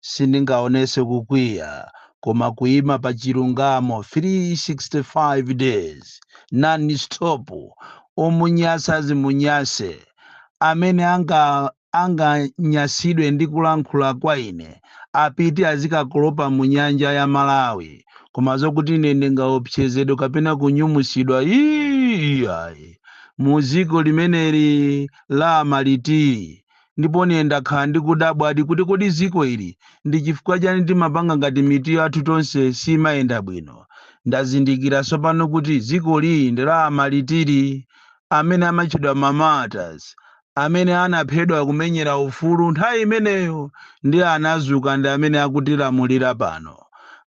sindingaonese kukwiya koma kuima pa chilungamo 365 days non stop omunyasa azimunyase amene anganyasidwe ndi kulankhula kwa ine apite azikakolopa mu nyanja ya malawi koma zokuti ine ndingaopsezedwe kapena kunyumusidwa iyayi mu dziko limeneli la maliti ndipo ine ndakhala ndikudabwadi kuti kodi dziko ili ndi chifukwa chani timapanga ngati mitu yathu tonse simayenda bwino. Ndazindikira tsopano kuti dziko ili ndi la amalitiri, amene amatchedwa ma martyrs, amene anaphedwa kumenyera ufulu nthawi imeneyo ndi anazuka ndi amene akutilamulira pano.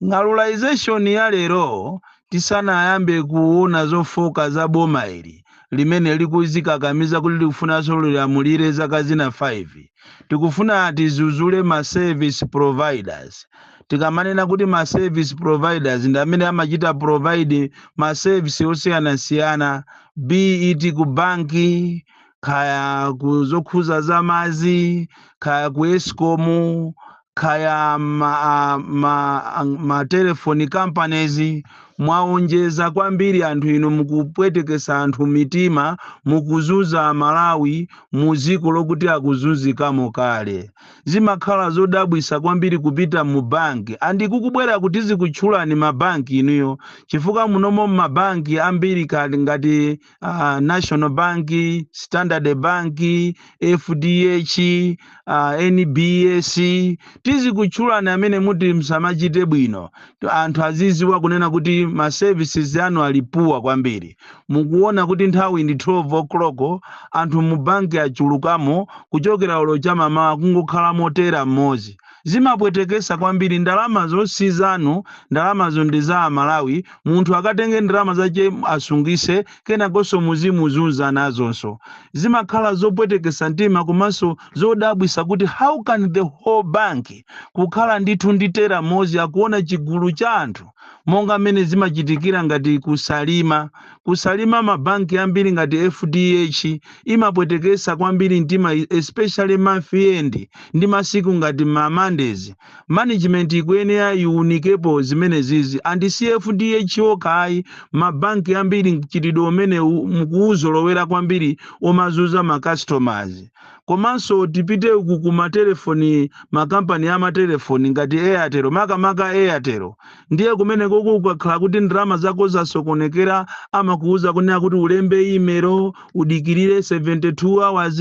Ng'alulization ya lero tisanayambe kuona zofooka za boma ili, limene likuzikakamiza kuti likufunanso lilamulire zaka zina 5. Tikufuna tizuzule ma service providers. Tikamanena kuti ma service providers ndi amene amachita provide ma service osiyanasiyana be it ku banki, kaya ku zokhuza za madzi, kaya ku Escom, kaya ma telephone companies mwaonjeza kwambiri anthu inu mukupwetekesa anthu mitima mukuzunza amalawi mu dziko lokuti akuzunzikamo kale zimakhala zodabwisa kwambiri kupita mu bank and ikukubwera kuti zikutchulani mabanki inuyo chifukwa munomo mabanki ambiri ngati national bank standard bank fdh nbs tizikutchulani amene muti msamachite bwino anthu aziziwa kunena kuti ma services anu ali poor kwambiri mukuona kuti nthawi ndi 12 o'clock anthu mu banki achulukamo kuchokera olo chamamawa kungokhala mo teller mmodzi zimapwetekesa kwambiri ndalamazo si zanu ndalamazo ndi za amalawi munthu akatenge ndalama zache asungise kenakonso muzimuzunza nazonso zimakhala zopwetekesa mtima komanso zodabwisa kuti how can the whole bank kukhala ndithu ndi teller mmodzi akuona chigulu cha anthu monga mmene zimachitikira ngati ku salima ku salima mabanki ambiri ngati fdh imapwetekesa kwambiri mtima especially month end ndi masiku ngati ma Mondays. Management ikuyenera iunikepo zimenezizi and si FDH okha ayi, ma bank ambiri mchitidwe umenewu mukuuzolowera kwambiri omazunza ma customers. Komanso tipite uku ku matelefoni, makampani a matelefoni ngati Airtel, makamaka Airtel. ndiye kumeneko ukakhala kuti ndalama zako zasokonekera amakuuza kunena kuti ulembe imelo udikirire 72 hours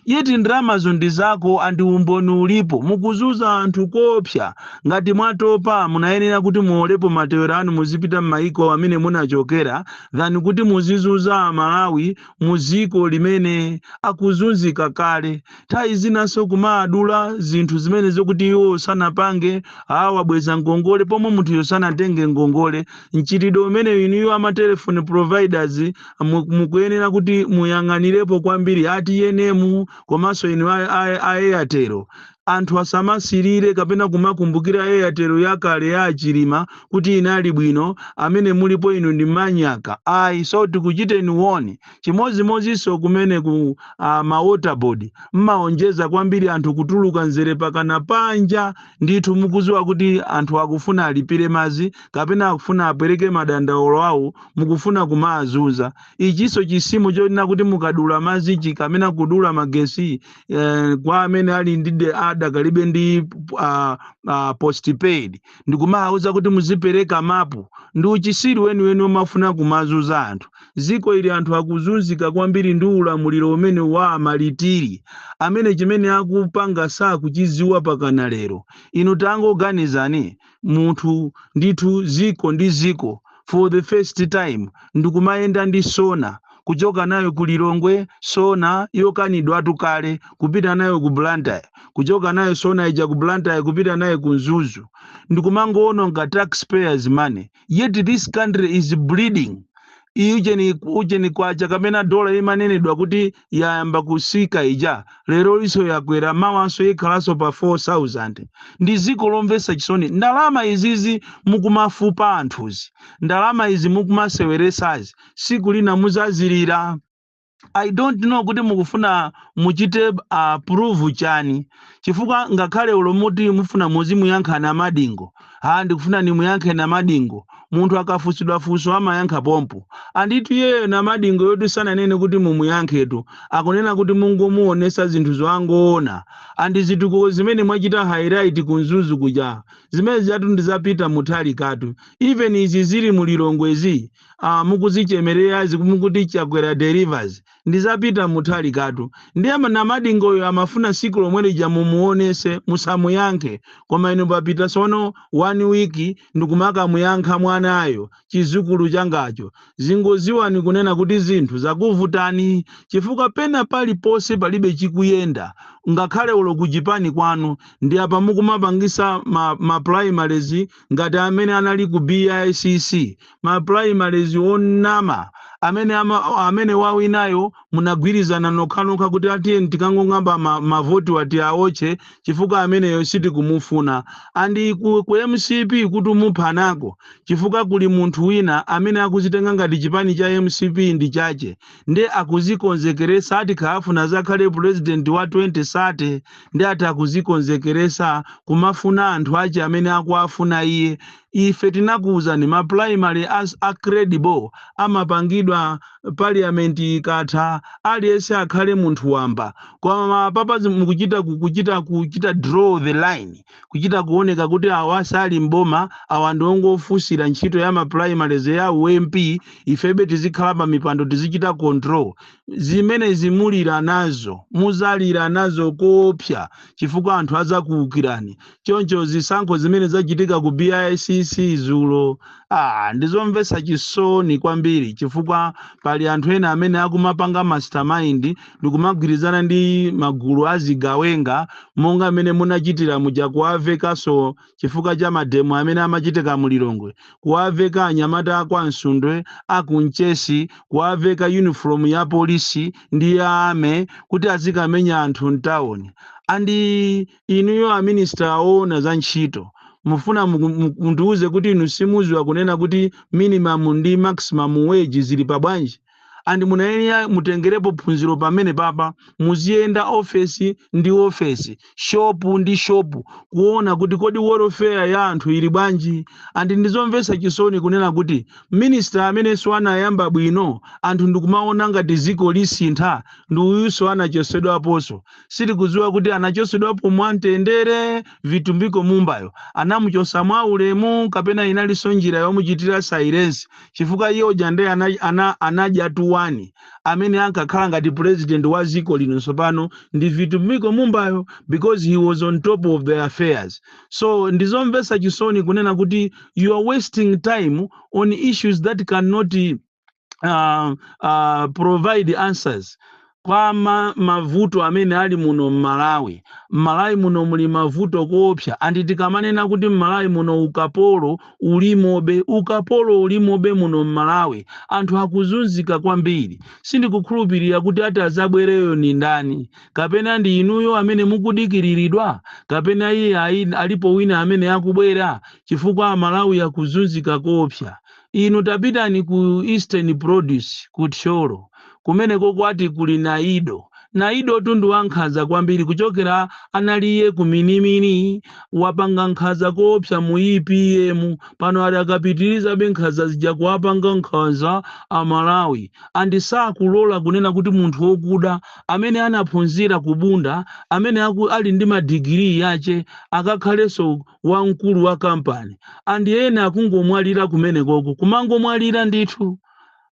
yeti ndalamazo ndi zako andi umboni ulipo mukuzuza anthu koopsa ngati mwatopa munayenera kuti muolepo matewero anu muzipita m'mayiko amene munachokera than kuti muzizuza amalawi mu ziko limene akuzunzika kale nthawi zinanso kumawadula zinthu zimene zokuti iwo sanapange awabweza ngongole pomwe munthuyo sanatenge ngongole mchitidwe umeneyu inuyo ama telephone providers mu- mukuyenera kuti muyang'anirepo kwambiri a TNM komanso inu a- a- a airtel Anthu asamasirire kapena kumakumbukira Airtel yakale ya aChilima kuti inali bwino, amene mulipo inu ndi manyaka so tikuchiteni warn. Chimodzimodzinso kumene ku a ma water board mmaonjeza kwambiri anthu kutuluka mzere pakana panja ndithu mukuziwa kuti anthu akufuna alipire madzi kapena akufuna apereke madandaulo awo mukufuna kumaazunza. Ichinso chisimo chonena kuti mukadula madzi chikamena kudula magesi eh, kwa amene ali ndi de- adakalibe ndi uh, uh, postpaid ndikumawauza kuti muzipereka mapu ndi uchisiru weniweni omafuna kumazuza anthu ziko ili anthu akuzunzika kwambiri ndi ulamuliro umene wa amalitiri amene chimene akupanga sakuchiziwa pakana lero inu tangoganizani munthu ndithu ziko ndi ziko for the first time ndikumayenda ndi sona kuchoka nayo ku Lilongwe sona yokanidwatu kale kupita nayo ku Blantyre kuchoka nayo sona ija ku Blantyre kupita nayo ku Mzuzu ndikumangowononga taxpayers money yet this country is bleeding ujeni ujeni kwacha kamena dola imanenedwa kuti yayamba kusika ija lero iso yakwera mawanso ikhalanso pa 4000 ndi ziko lomvesa chisoni ndalama izizi mukumafupa anthuzi ndalama izi mukumaseweresazi siku lina muzazilira i don't know kuti mukufuna muchite approve chani chifukwa ngakhale ulomo uti mufuna muzimuyankha Namadingo Ha, ndikufuna nimuyankhe Namadingo. Munthu akafunsidwa funso amayankha pompo. Anditu iyeyo Namadingoyotu sananene kuti mumuyankhetu. Akunena kuti mungomuonesa zinthuzo angoona. And zitukuko zimene mwachita highlight ku Mzuzu kuja, zimene zijatu ndi za Peter Mutharikatu. Even izi zili mu Lilongwezi, ah, mukuzichemererazi mukuti Chakwera delivers. ndizapita mutali katu ndiye ma- namadingoyo amafuna siku lomwelija mumuonese musamuyankhe koma inu papita sono one week ndikumakamuyankha mwanayo chizukulu changacho zingoziwani kunena kuti zinthu zakuvutani chifukwa pena paliponse palibe chikuyenda ngakhale olo kuchipani kwanu ndi apa mukumapangisa ma, ma primaries ngati amene anali ku bicc ma primaries onama amene ama, amene wawinayo munagwirizana nokhanokha kuti ah tiyeni tikangong'amba ma, mavoti wati aotche chifukwa ameneyo sitikumufuna and ku, ku mcp kuti umuphanako chifukwa kuli munthu wina amene akuzitenga ngati chipani cha mcp ndi chache nde akuzikonzekeresa ati akafuna azakhale president wa 2030 nde ati akuzikonzekeresa kumafuna anthu ache amene akuwafuna iye Ife tinakuuzani ma primary a a credible amapangidwa parliament ikatha aliyense akhale munthu wamba koma apapa zi- mukuchita ku- kuchita kuchita draw the line kuchita kuoneka kuti awa sali mboma awa ndi ongofunsira ntchito ya ma primaries ya u MP ifebe tizikhala pa mipando tizichita control zimenezi mulira nazo muzalira nazo koopsa chifukwa anthu azakuukirani choncho zisankho zimene zachitika ku bicc dzulo ah, ndizomvetsa chisoni kwambiri chifukwa pali anthu ena amene akumapanga mastermind ndikumagwirizana ndi magulu azigawenga monga amene munachitira muja kuwavekanso chifukwa cha mademo amene amachitika mu lilongwe kuwaveka anyamata akwa msundwe akunchesi kuwaveka uniform ya polisi ndi ya army kuti azikamenya anthu mtawuni and Inuyo a minister owona za ntchito mufuna mundiuze kuti inu simuziwa kunena kuti minimum ndi maximum wage zili pa bwanji? And mumayenera mutengerepo phunziro pamenepapa. Muziyenda office ndi office, shop ndi shop kuona kuti kodi welfare ya anthu ili bwanji? And ndizomvetsa chisoni kunena kuti minister amenenso anayamba bwino anthu ndikumaona ngati dziko lisintha ndi uyunso anachosedwaponso. sitikuziwa kuti anachosedwapo mwa mtendere vitumbiko mumbayo anamuchosa mwa ulemu kapena inaliso njira yomuchitira silence chifukwa iye uja nde ana, ana, anadyatu amene ankakhala ngati president wa ziko lino tsopano ndi vitumbiko mumbayo because he was on top of the affairs so ndizomvesa chisoni kunena kuti you are wasting time on issues that cannot uh, uh, provide answers kwa ma, mavuto amene ali muno m'malawi m'malawi muno muli mavuto koopsa andi tikamanena kuti m'malawi muno ukapolo ulimobe ukapolo ulimobe muno m'malawi anthu akuzunzika kwambiri sindikukhulupirira kuti ati azabwereyo ni ndani kapena ndi inuyo amene mukudikiriridwa kapena iye ayi- alipo wina amene akubwera chifukwa amalawi akuzunzika koopsa Inu tapitani ku Eastern Produce ku Thyolo kumeneko kwati kuli Naido. Naidotu ndi wankhanza kwambiri kuchokera anali iye ku Minimini wapanga nkhanza koopsa mu EPM pano adakapitirizabe nkhanza zija kuwapanga nkhanza a Malawi and sakulola kunena kuti munthu okuda amene anaphunzira ku Bunda amene ali ndi ma degree ache akakhalenso wamkulu wa kampani and ena akungomwalira kumenekoko kumangomwalira ndithu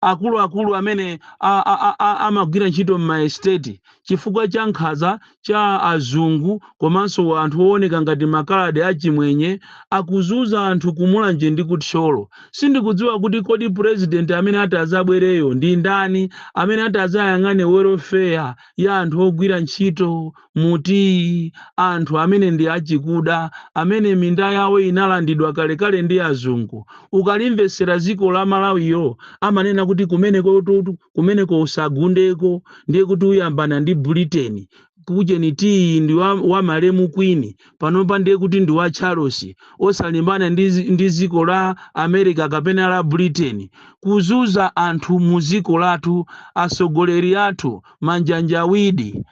akuluakulu amene a- a- a- a- amagwira ntchito m'maesiteti chifukwa cha nkhaza cha azungu komanso anthu ooneka ngati makaladi achimwenye akuzuza anthu ku Mulanje ndi ku Thyolo sindikudziwa kuti kodi purezidenti amene ati azabwereyo ndi ndani amene ati azayang'ane welfare ya anthu ogwira ntchito mu tiyi anthu amene ndi achikuda amene minda yawo inalandidwa kalekale ndi azungu ukalimvetsera dziko la malawiyo amanena kuti kumeneko tu- kumeneko usagundeko ndiye kuti uyambana ndi britain ujeni tiyi ndi wa, wa malemu kwini panopa ndiye kuti ndi wa charles osalimbana ndi, zi- ndi dziko la america kapena la britain kuzuza anthu mu dziko lathu atsogoleri athu manjanjawidi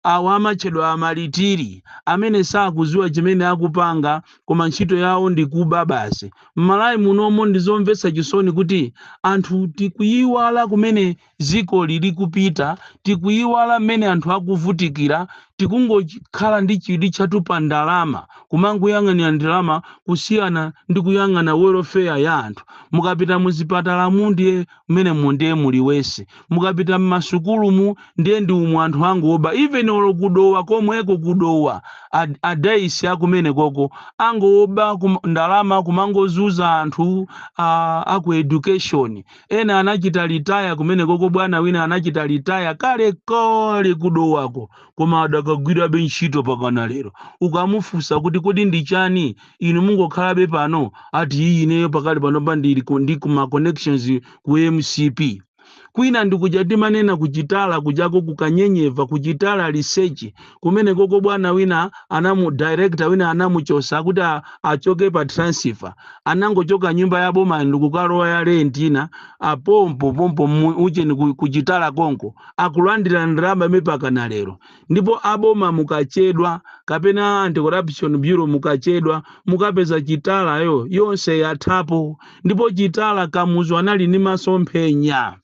Awa amatchedwa amalitiri amene sakuziwa chimene akupanga koma ntchito yawo ndi kuba basi. Mmalawi munomo ndizomvetsa chisoni kuti anthu tikuyiwala kumene ziko lilikupita, tikuyiwala mmene anthu akuvutikira, tikungokhala ndi chidwi chathu pa ndalama, kumangoyang'anira ndalama kusiyana ndi kuyang'ana welofeya ya anthu. Mukapita muzipatalamu ndiye. Mmenemo ndiye muli worse. Mukapita mmasukulumu ndiye ndi umu anthu angoba even olo ku Dowa komweko ku Dowa a a Daisy akumenekoko angoba ndalama kumangozuza anthu a a ku education. Ena anachita retire kumenekoko bwana wina anachita retire kale kale ku Dowako koma adakagwirabe ntchito pakana lero. Ukamufusa kuti kodi ndi chani inu mungokhalabe pano ati iyi ineyo pakali pano pa ndili ku- ndi kuma connections ku mcp kwina ndikuja timanena kuchitala kujako kukanyenyeva kuchitala research kumene koko bwana wina anamu director wina anamuchosa kuti a- achoke pa transfer anangochoka nyumba ya boma ndikukalowa ya rent ina apompo pompo mu- ucheni ku- kuchitala konko akulandira ndalama mpaka na lero ndipo a boma mukachedwa kapena a anti-corruption bureau mukachedwa mukapeza chitalayo yonse yathapo ndipo chitala kamuzu anali ndi masomphenya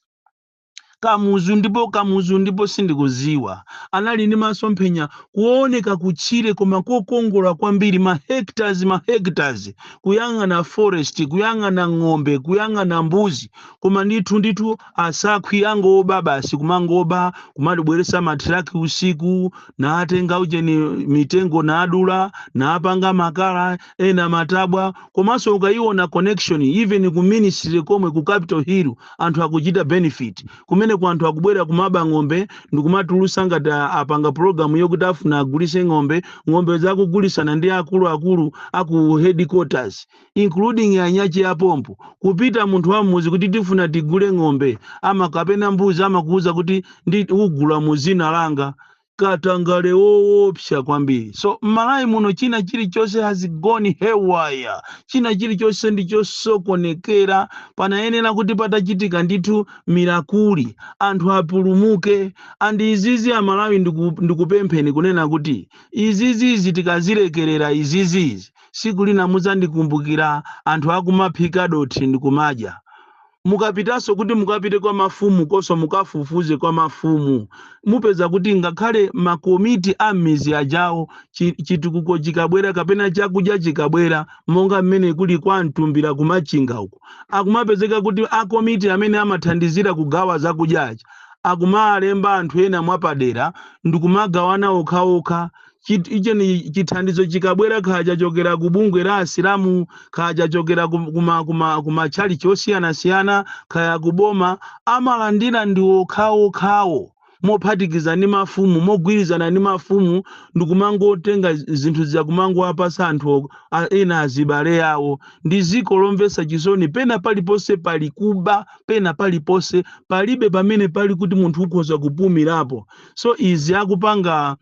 kamuzu ndipo kamuzu ndipo sindikuziwa anali ndi masomphenya kuoneka kutchire koma kokongola kwambiri ma hectares ma hectares kuyang'ana forest kuyang'ana ng'ombe kuyang'ana mbuzi koma ndithu ndithu asakhwi angoba basi kumangoba kumabweresa matraki usiku naatenga ujeni mitengo naadula naapanga makala ena matabwa komanso ukayiona connection even ku ministry komwe ku capital hill anthu akuchita benefit kumeneku anthu akubwera kumaba ng'ombe ndikumatulusa ngati a- apanga program yokuti afuna agulise ng'ombe ng'ombe zakugulisana ndi akuluakulu aku headquarters including anyuchi a pompo kupita munthu wa mmuzi kuti tifuna tigule ng'ombe ama kapena mbuzi amakuuza kuti ndi ugula mu zina langa katangale woopsa kwambiri so mmalawi muno china chilichonse has gone haywire china chilichonse ndi chosokonekera panayenera kuti patachitika ndithu mirakuli anthu apulumuke and izizi amalawi ndiku- ndikupempheni kunena kuti izizizi tikazilekerera izizizi siku lina mudzandikumbukira anthu akumaphika dothi ndikumadya. Mukapitaso kuti mukapite kwa mafumu koso mukafufuze kwa mafumu mupeza kuti ngakhale ma komiti a mmizi ajawo chi, chitukuko chikabwera kapena chakudya chikabwera monga mmene kuli kwa mtumbira kumachinga uko akumapezeka kuti a komiti amene amathandizira kugawa zakudya aja akumalemba anthu ena mwapadera ndikumagawana okhaokha chit- icheni chithandizo chikabwera kaya chachokera ku bungwe la asilamu kaya chachokera ku- kuma kuma kumatchalichi osiyanasiyana kaya kuboma amalandira ndi okhaokhawo mophatikiza ndi mafumu mogwirizana ndi mafumu ndikumangotenga zi- zinthu zija kumangowapasa anthu o- a- ena azibale awo ndi ziko lomvesa chisoni pena paliponse pali kuba pena paliponse palibe pamene pali kuti munthu ukhoza kupumirapo so izi akupanga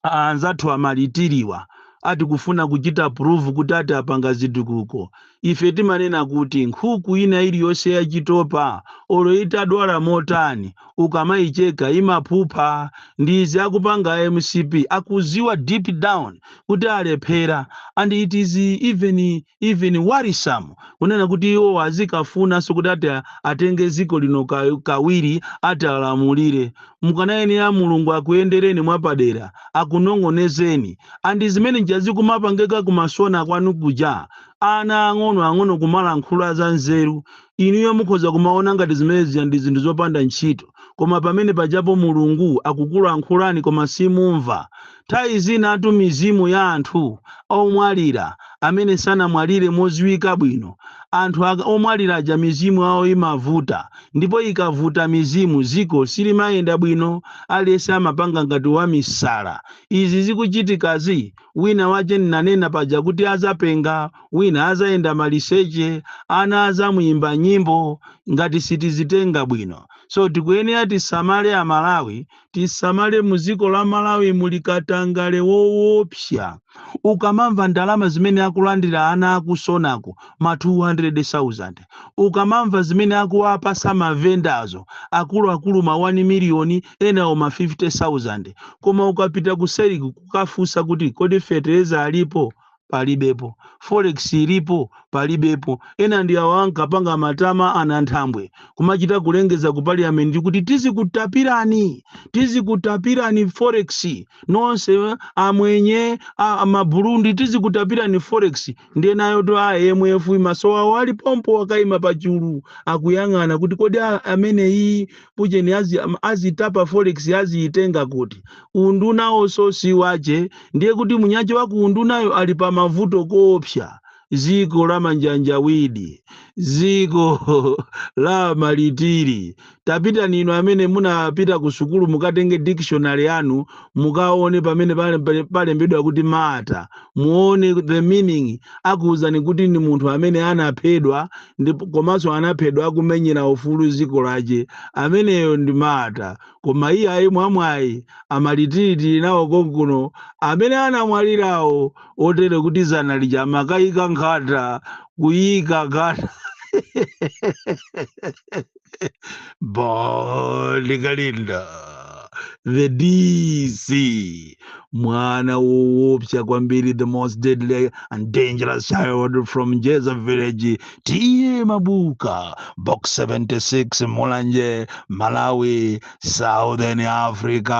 a anzathu amalitiriwa ati kufuna kuchita prove kuti ati apanga zitukuko ife timanena kuti nkhuku ina iliyonse yachitopa olo itadwala motani ukamayicheka imaphupha ndi izi akupanga a mcp akuziwa deep down kuti alephera and it is even even worrisome kunena kuti iwowo azikafunanso kuti ati atenge dziko lino ka, kawiri ati alamulire mukanayenera mulungu akuyendereni mwapadera akunong'onezeni andi zimene nja zikumapangika kumasona kwanu kuja ana ang'ono ang'ono kumalankhula za nzeru inuyo mukhoza kumaona ngati zimene zija ndi zinthu zopanda ntchito koma pamene pajapo mulungu akukulankhulani koma simumva Nthawi zinatu mizimu ya anthu omwalira amene sanamwalire modziwika bwino, anthu aka, omwalira aja mizimu yawo imavuta ndipo ikavuta mizimu dziko silimayenda bwino aliyense amapanga ngati wamisala. Izi zikuchitikazi wina wache nnanena paja kuti adzapenga, wina adzayenda maliseche, ana adzamuimba nyimbo ngati sitizitenga bwino. So tikuyenera tisamale a Malawi tisamale muziko la malawi muli katangale woopsa ukamamva ndalama zimene akulandira ana akusonako ma 200,000 ukamamva zimene akuwapasa mavendazo akuluakulu ma 1 miliyoni enawo ma 50,000 koma ukapita kuseriku kukafunsa kuti kodi fetereza alipo palibepo forex ilipo palibepo ena ndi awa ankapanga matama ana nthambwe kumachita kulengeza ku parliament kuti tizikutapirani tizikutapirani forex nonse eh, amwenye a- a maburundi tizikutapirani forex ndiye nayotu a imf maso awo ali pompo akaima pachulu akuyang'ana kuti kodi a- ameneyi ujeni azi, azitapa forex aziitenga kuti undunawoso si wache ndiye kuti munyache wa kuundunayo ali pa mavuto koopsa ziko la manjanjawidi ziko la malitiri tapitani inu amene munapita ku sukulu mukatenge dictionary yanu mukaone pamene pale- pale- palembedwa kuti martyr muone the meaning akuwuzani kuti ndi munthu amene anaphedwa ndipo komanso anaphedwa akumenyera ufulu dziko lache ameneyo ndi martyr koma iye ayi mwamwayi amalitiri nawo konkuno amene anamwalirawo otere kuti zana lija amakayika nkhata kuyika nkhata Balikalinda the DC mwana woopsa kwambiri the most deadly and dangerous child from Jeza village tiye mabuka box 76 mulanje malawi southern africa